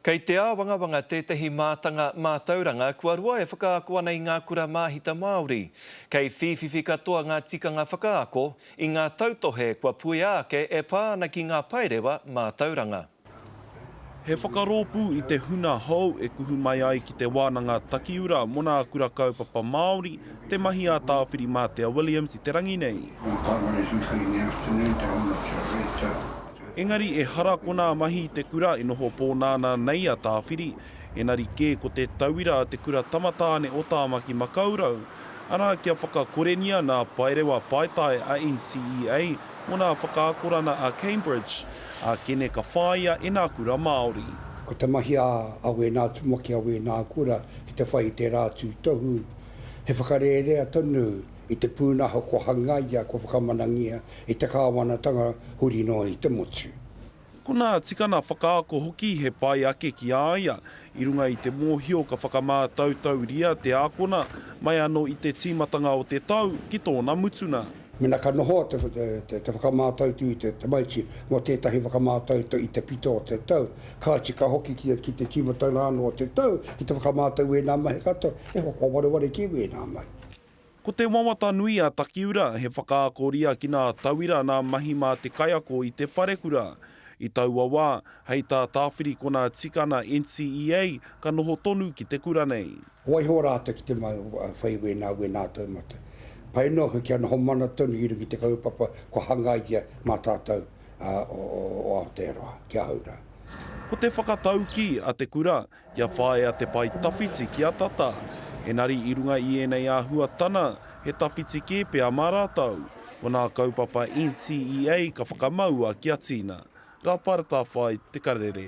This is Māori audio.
Kei te āwangawanga tētahi mātanga mātauranga kua roa e whakaako ana i ngā kura māhita Māori. Kei whīwhiwhi katoa ngā tikanga whakaako i ngā tautohe kua puea ake e pā ana ki ngā paerewa mātauranga. He whakarōpū i te huna hou e kuhu mai ai ki Te Wānanga Takiura mō nā Kura Kaupapa Māori te mahi a Tāwhirimātea Williams i te rangi nei. Ko Tāmare Hiwhai in the afternoon, te Hono ki a Rachel. Engari ehara konā mahi i te kura e noho pōnānā nei a Tāwhiri, enari kē ko te tauira a te kura tamatāne o Tāmaki Makaurau, arā kia whakakorengia nā Paerewa Paetae a NCEA mō nā whakaakorana a Cambridge, a Kene ka whāia e nā kura Māori. Ko te mahi a wēnā tumuaki, a wēnā kura ki te whai i tērā tūtohu, he whakarērea tonu i te pūnaha kua hangaia, kua whakamanangia e te kāwanatanga huri noa i te motu. Konā, tikana whakaako hoki he pai ake ki a ia. I runga i te mōhio ka whakamātautauria te ākona mai anō i te tīmatanga o te tau ki tōna mutunga. Mēnā ka noho te whakamātautū i te tamaiti mō tētahi whakamātautau i te pito o te tau, kāti ka hoki ki te tīmatanga anō o te tau ki te whakamātau i ēnā mahi katoa, e hoa, kua wareware ki wēnā mahi. Ko te wawata nui a Takiura he whakaako ria ki nā tauira nā mahi mā te kaiako i te wharekura. I taua wā, hei tā Tāwhiri Kona Tikana NCEA ka noho tonu ki te kura nei. Waiho rātou ki te whai wēnā, wēnā taumata. Pai noa koe kia noho mana tonu i runga i te kaupapa kua hangaia mā tātou o Aotearoa, ki ahau rā. Ko te whakataukī a te kura, Kia whāia te pae tawhiti ki a Tata, engari i runga i ēnei āhuatana, he tawhiti kē pea mā rātou. Ko nā kaupapa NCEA ka whakamaua kia tīna. Rāpara Tāwhai, Te Karere.